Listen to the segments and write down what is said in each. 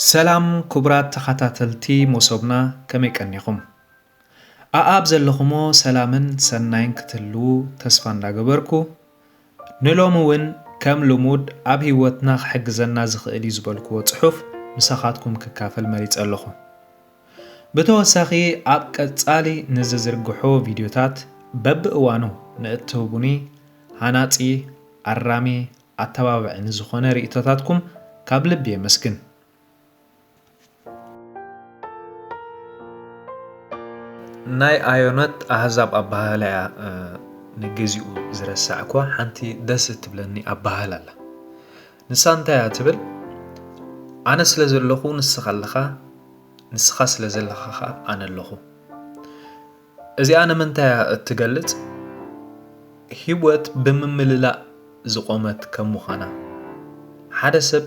ሰላም ክቡራት ተኸታተልቲ መሶብና ከመይ ቀኒኹም? ኣኣብ ዘለኹሞ ሰላምን ሰናይን ክትህልዉ ተስፋ እንዳገበርኩ ንሎሚ ውን ከም ልሙድ ኣብ ሂወትና ክሕግዘና ዝኽእል ዩ ዝበልክዎ ጽሑፍ ምሳኻትኩም ክካፈል መሪጸ ኣለኹ። ብተወሳኺ ኣብ ቀጻሊ ንዝዝርግሖ ቪድዮታት በብእዋኑ ንእትህቡኒ ሃናጺ፣ ኣራሚ፣ ኣተባባዒ ንዝኾነ ሪኢቶታትኩም ካብ ልቢ የመስግን። ናይ ኣዮነት ኣህዛብ ኣባሃህላ እያ ንግዚኡ ዝረሳዕኳ ሓንቲ ደስ እትብለኒ ኣባሃህላ ኣላ ንሳ እንታይ እያ ትብል ኣነ ስለ ዘለኹ ንስኻ ኣለኻ ንስኻ ስለ ዘለኻ ኸዓ ኣነ ኣለኹ እዚኣ ንምንታይ እያ እትገልጽ ህይወት ብምምልላእ ዝቆመት ከም ምዃና ሓደ ሰብ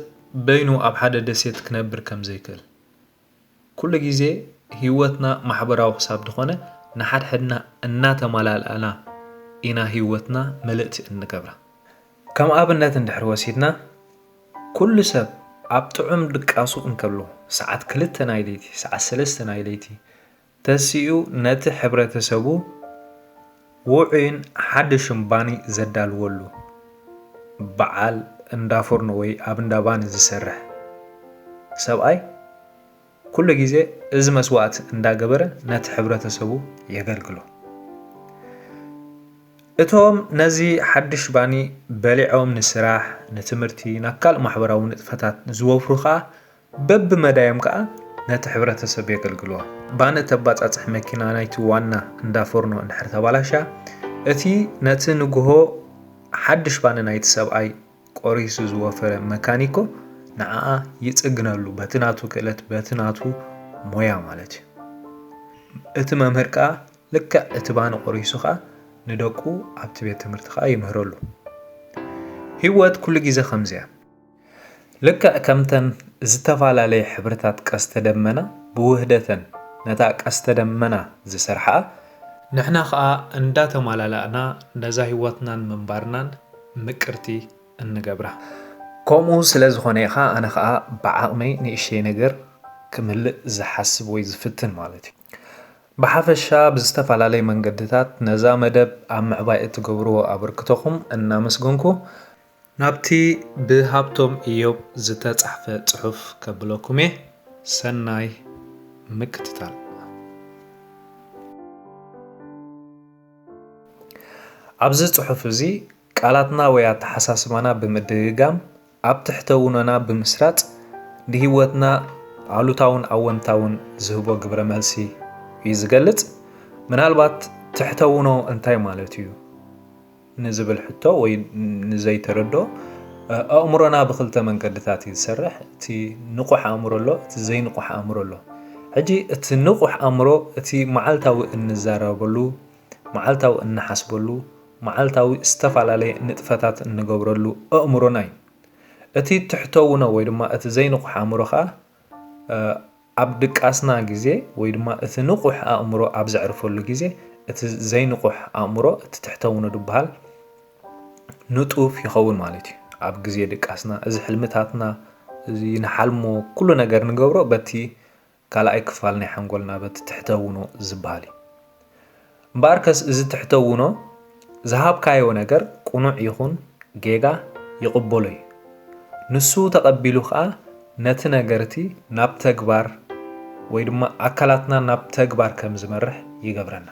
በይኑ ኣብ ሓደ ደሴት ክነብር ከም ዘይክእል። ኩሉ ግዜ ህይወትና ማሕበራዊ ክሳብ ድኾነ ንሓድሕድና እናተማላልኣና ኢና ህይወትና ምልእቲ እንገብራ። ከም ኣብነት እንድሕር ወሲድና ኩሉ ሰብ ኣብ ጥዑም ድቃሱ እንከሎ ሰዓት ክልተ ናይ ለይቲ፣ ሰዓት ሰለስተ ናይ ለይቲ፣ ተሲኡ ነቲ ሕብረተሰቡ ውዑይን ሓድሽን ባኒ ዘዳልወሉ በዓል እንዳ ፎርኖ ወይ ኣብ እንዳ ባኒ ዝሰርሕ ሰብኣይ ኩሉ ግዜ እዚ መስዋእቲ እንዳገበረ ነቲ ሕብረተሰቡ የገልግሎ። እቶም ነዚ ሓድሽ ባኒ በሊዖም ንስራሕ፣ ንትምህርቲ፣ ናብ ካልእ ማሕበራዊ ንጥፈታት ዝወፍሩ ከኣ በብመዳዮም ከኣ ነቲ ሕብረተሰብ የገልግልዋ። ባኒ እተባጻጽሕ መኪና ናይቲ ዋና እንዳ ፎርኖ እንድሕር ተባላሽያ፣ እቲ ነቲ ንግሆ ሓድሽ ባኒ ናይቲ ሰብኣይ ቆሪሱ ዝወፈረ መካኒኮ ንዓኣ ይጽግነሉ፣ በቲ ናቱ ክእለት በቲ ናቱ ሞያ ማለት እዩ። እቲ መምህር ከኣ ልክዕ እቲ ባኒ ቆሪሱ ከኣ ንደቁ ኣብቲ ቤት ትምህርቲ ከኣ ይምህረሉ። ሂወት ኩሉ ግዜ ከምዚ እያ። ልክዕ ከምተን ዝተፈላለየ ሕብርታት ቀስተ ደመና ብውህደተን ነታ ቀስተ ደመና ዝሰርሓኣ፣ ንሕና ከኣ እንዳተማላላእና ነዛ ህይወትናን ምንባርናን ምቅርቲ እንገብራ። ከምኡ ስለ ዝኾነ ኢኻ ኣነ ከኣ ብዓቕመይ ንእሽተይ ነገር ክምህልእ ዝሓስብ ወይ ዝፍትን ማለት እዩ። ብሓፈሻ ብዝተፈላለየ መንገድታት ነዛ መደብ ኣብ ምዕባይ እትገብርዎ ኣበርክቶኹም እናመስገንኩ፣ ናብቲ ብሃብቶም እዮብ ዝተጻሕፈ ጽሑፍ ከብለኩም'የ፣ ሰናይ ምክትታል። ኣብዚ ጽሑፍ እዚ ቃላትና ወይ ኣተሓሳስባና ብምድግጋም ኣብ ትሕተ-ውኖና ብምስራጽ ንህይወትና ኣሉታውን ኣወንታውን ዝህቦ ግብረ-መልሲ እዩ ዝገልጽ። ምናልባት ትሕተ-ውኖ እንታይ ማለት'ዩ? ንዝብል ሕቶ ወይ ንዘይተረድኦ፣ ኣእምሮና ብኽልተ መንገድታት እዩ ዝሰርሕ። እቲ ንቑሕ ኣእምሮ ኣሎ፣ እቲ ዘይንቑሕ ኣእምሮ ኣሎ። ሕጂ እቲ ንቑሕ ኣእምሮ እቲ መዓልታዊ እንዛረበሉ፣ መዓልታዊ እንሓስበሉ፣ መዓልታዊ ዝተፈላለየ ንጥፈታት እንገብረሉ ኣእምሮና እዩ። እቲ ትሕተውኖ ወይ ድማ እቲ ዘይንቑሕ ኣእምሮ ከኣ ኣብ ድቃስና ግዜ ወይ ድማ እቲ ንቑሕ ኣእምሮ ኣብ ዘዕርፈሉ ግዜ እቲ ዘይንቑሕ ኣእምሮ እቲ ትሕተውኖ ድበሃል ንጡፍ ይኸውን ማለት እዩ። ኣብ ግዜ ድቃስና እዚ ሕልምታትና እዚ ንሓልሞ ኩሉ ነገር ንገብሮ በቲ ካልኣይ ክፋል ናይ ሓንጎልና በቲ ትሕተውኖ ዝበሃል እዩ። እምበኣርከስ እዚ ትሕተውኖ ዝሃብካዮ ነገር ቅኑዕ ይኹን ጌጋ ይቕበሎ እዩ። ንሱ ተቐቢሉ ከኣ ነቲ ነገር'ቲ ናብ ተግባር ወይ ድማ ኣካላትና ናብ ተግባር ከም ዝመርሕ ይገብረና።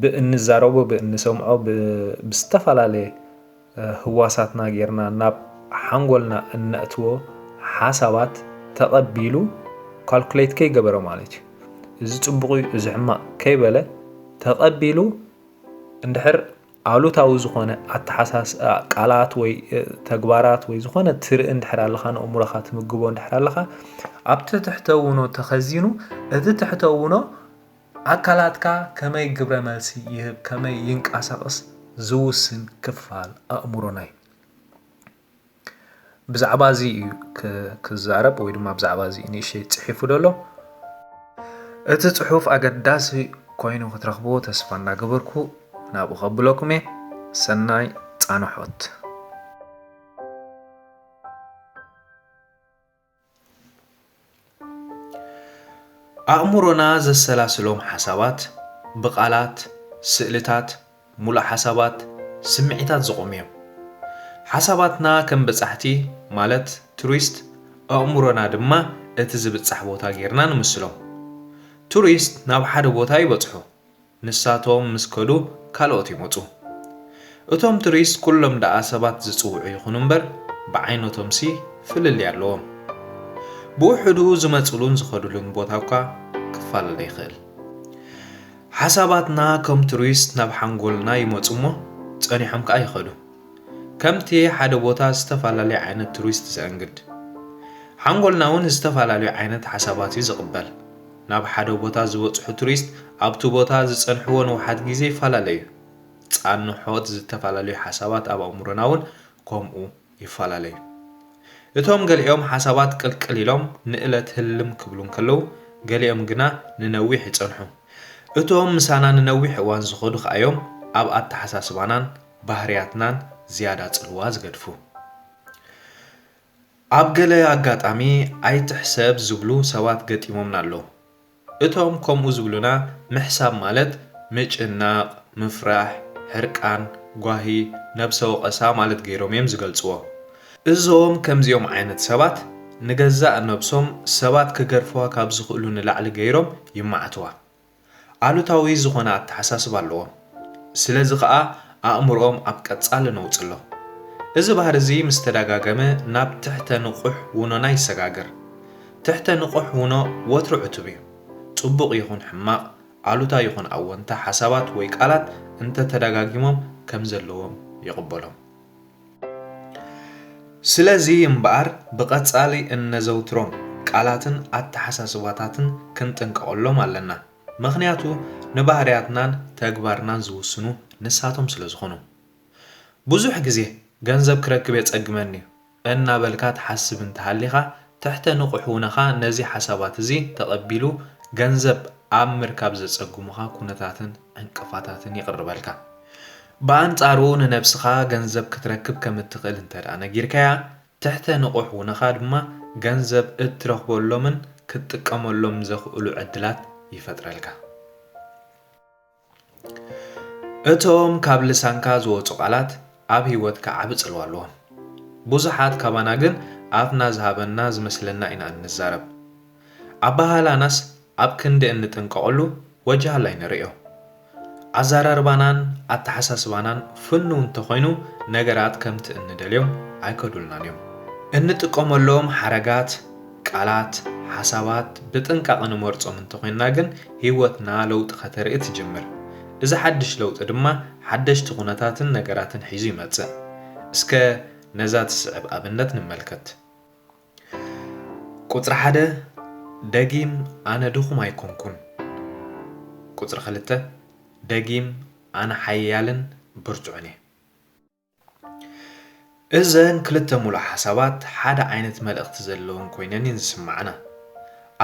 ብእንዛረቦ፣ ብእንሰምዖ፣ ብዝተፈላለየ። ህዋሳትና ጌርና ናብ ሓንጎልና እነእትዎ ሓሳባት ተቐቢሉ ካልኩሌት ከይገበረ ማለት እዩ እዚ ጽቡቕ እዩ እዚ ሕማቕ ከይበለ ተቐቢሉ እንድሕር ኣሉታዊ ዝኾነ ኣተሓሳስ ቃላት ወይ ተግባራት ወይ ዝኾነ ትርኢ እንድሕር ኣለኻ ንእምሮኻ ትምግቦ እንድሕር ኣለኻ ኣብቲ ትሕተውኖ ተኸዚኑ እቲ ትሕተውኖ ኣካላትካ ከመይ ግብረ መልሲ ይህብ ከመይ ይንቃሳቕስ ዝውስን ክፋል ኣእምሮና እዩ። ብዛዕባ እዚ እዩ ክዛረብ ወይ ድማ ብዛዕባ እዚ ንእሽተይ ጽሒፉ ደሎ እቲ ጽሑፍ ኣገዳሲ ኮይኑ ክትረኽብዎ ተስፋ እናገበርኩ ናብኡ ከብለኩም እየ ሰናይ ጻንሖት ኣእምሮና ዘሰላስሎም ሓሳባት ብቓላት፣ ስእልታት፣ ሙሉእ ሓሳባት፣ ስምዒታት ዝቖሙ እዮም። ሓሳባትና ከም በጻሕቲ ማለት ቱሪስት ኣእምሮና ድማ እቲ ዝብጻሕ ቦታ ጌርና ንምስሎም። ቱሪስት ናብ ሓደ ቦታ ይበጽሑ። ንሳቶም ምስ ከዱ ካልኦት ይመጹ። እቶም ቱሪስት ኩሎም ደኣ ሰባት ዝጽውዑ ይኹኑ እምበር ብዓይነቶምሲ ፍልልይ ኣለዎም። ብውሑዱ ዝመጽሉን ዝኸድሉን ቦታ እኳ ክፈላለ ይኽእል። ሓሳባትና ከም ቱሪስት ናብ ሓንጎልና ይመጹ እሞ ጸኒሖም ከኣ ይኸዱ። ከምቲ ሓደ ቦታ ዝተፈላለየ ዓይነት ቱሪስት ዘእንግድ። ሓንጎልና'ውን ዝተፈላለዩ ዓይነት ሓሳባት'ዩ ዝቕበል። ናብ ሓደ ቦታ ዝበጽሑ ቱሪስት ኣብቲ ቦታ ዝጸንሕዎ ንውሓት ግዜ ይፈላለዩ። ጻንሖት ዝተፈላለዩ ሓሳባት ኣብ ኣእምሮና እውን ከምኡ ይፈላለዩ። እቶም ገሊኦም ሓሳባት ቅልቅል ኢሎም ንእለት ህልም ክብሉ እንከለዉ፣ ገሊኦም ግና ንነዊሕ ይጸንሑ። እቶም ምሳና ንነዊሕ እዋን ዝኸዱ ከኣ እዮም ኣብ ኣተሓሳስባናን ባህርያትናን ዝያዳ ጽልዋ ዝገድፉ። ኣብ ገለ ኣጋጣሚ ኣይትሕሰብ ዝብሉ ሰባት ገጢሞምና ኣለዉ። እቶም ከምኡ ዝብሉና ምሕሳብ ማለት ምጭናቕ፣ ምፍራሕ፣ ሕርቃን፣ ጓሂ፣ ነብሰ ወቐሳ ማለት ገይሮም እዮም ዝገልጽዎ። እዞም ከምዚኦም ዓይነት ሰባት ንገዛእ ነብሶም ሰባት ክገርፍዋ ካብ ዝኽእሉ ንላዕሊ ገይሮም ይማዕትዋ። ኣሉታዊ ዝኾነ ኣተሓሳስባ ኣለዎም። ስለዚ ከኣ ኣእምሮኦም ኣብ ቀጻሊ ነውጺ ኣሎ። እዚ ባህሪ እዚ ምስ ተደጋገመ ናብ ትሕተ ንቑሕ ውኖና ይሰጋገር። ትሕተ ንቑሕ ውኖ ወትሩ ዕቱብ እዩ። ጽቡቕ ይኹን ሕማቕ፣ ኣሉታ ይኹን ኣወንታ ሓሳባት ወይ ቃላት እንተ ተደጋጊሞም ከም ዘለዎም ይቕበሎም። ስለዚ እምበኣር ብቐጻሊ እነዘውትሮም ቃላትን ኣተሓሳስባታትን ክንጥንቀቐሎም ኣለና። ምኽንያቱ ንባህርያትናን ተግባርናን ዝውስኑ ንሳቶም ስለ ዝኾኑ። ብዙሕ ግዜ ገንዘብ ክረክብ የጸግመኒ'ዩ እናበልካ ትሓስብ እንተሃሊኻ ትሕተ ንቑሕውነኻ ነዚ ሓሳባት እዚ ተቐቢሉ ገንዘብ ኣብ ምርካብ ዘጸግሙኻ ኩነታትን ዕንቅፋታትን የቕርበልካ። ብኣንጻሩ ንነብስኻ ገንዘብ ክትረክብ ከም እትኽእል እንተድኣ ነጊርካያ፣ ትሕተ ንቑሕ ውነኻ ድማ ገንዘብ እትረኽበሎምን ክትጥቀመሎም ዘኽእሉ ዕድላት ይፈጥረልካ። እቶም ካብ ልሳንካ ዝወጹ ቃላት ኣብ ህይወትካ ዓቢ ጽልዋ ኣለዎም። ብዙሓት ካባና ግን ኣፍና ዝሃበና ዝመስለና ኢና እንዛረብ። ኣበሃህላናስ ኣብ ክንዲ እንጥንቀቐሉ ወጅሃላይ ንርእዮ። ኣዘራርባናን ኣተሓሳስባናን ፍኑው እንተኾይኑ ነገራት ከምቲ እንደልዮም ኣይከዱልናን እዮም። እንጥቀመሎም ሓረጋት፣ ቃላት፣ ሓሳባት ብጥንቃቐ ንመርጾም እንተኾይንና ግን ህይወትና ለውጢ ከተርኢ ትጅምር። እዚ ሓድሽ ለውጢ ድማ ሓደሽቲ ኩነታትን ነገራትን ሒዙ ይመጽእ። እስከ ነዛ ትስዕብ ኣብነት ንመልከት። ቁጽሪ ሓደ ደጊም ኣነ ድኹም ኣይኮንኩን ቁጽሪ ክልተ ደጊም ኣነ ሓያልን ብርቱዕን እየ። እዘን ክልተ ምሉእ ሓሳባት ሓደ ዓይነት መልእኽቲ ዘለወን ኮይነን እየን ዝስማዕና።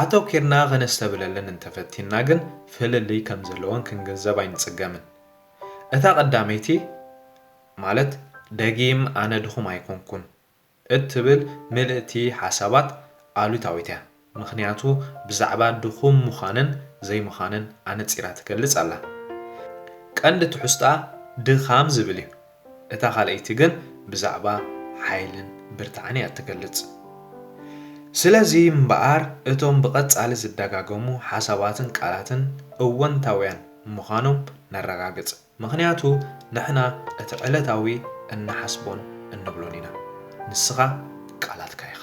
ኣተኲርና ከነስተብህለለን እንተፈቲንና ግን ፍልልይ ከም ዘለወን ክንግንዘብ ኣይንጽገምን። እታ ቀዳመይቲ ማለት ደጊም ኣነ ድኹም ኣይኮንኩን እትብል ምልእቲ ሓሳባት ኣሉታዊት እያ፣ ምኽንያቱ ብዛዕባ ድኹም ምዃንን ዘይምዃንን ኣነጺራ ትገልጽ ኣላ። ቀንዲ ትሕዝቶኣ ድኻም ዝብል እዩ፣ እታ ካልኣይቲ ግን ብዛዕባ ሓይልን ብርታዐን እያ እትገልጽ። ስለዚ እምበኣር እቶም ብቐጻሊ ዝደጋገሙ ሓሳባትን ቃላትን እወንታውያን ምዃኖም ነረጋግጽ። ምኽንያቱ ንሕና እቲ ዕለታዊ እንሓስቦን እንብሎን ኢና። ንስኻ ቃላትካ ኢኻ።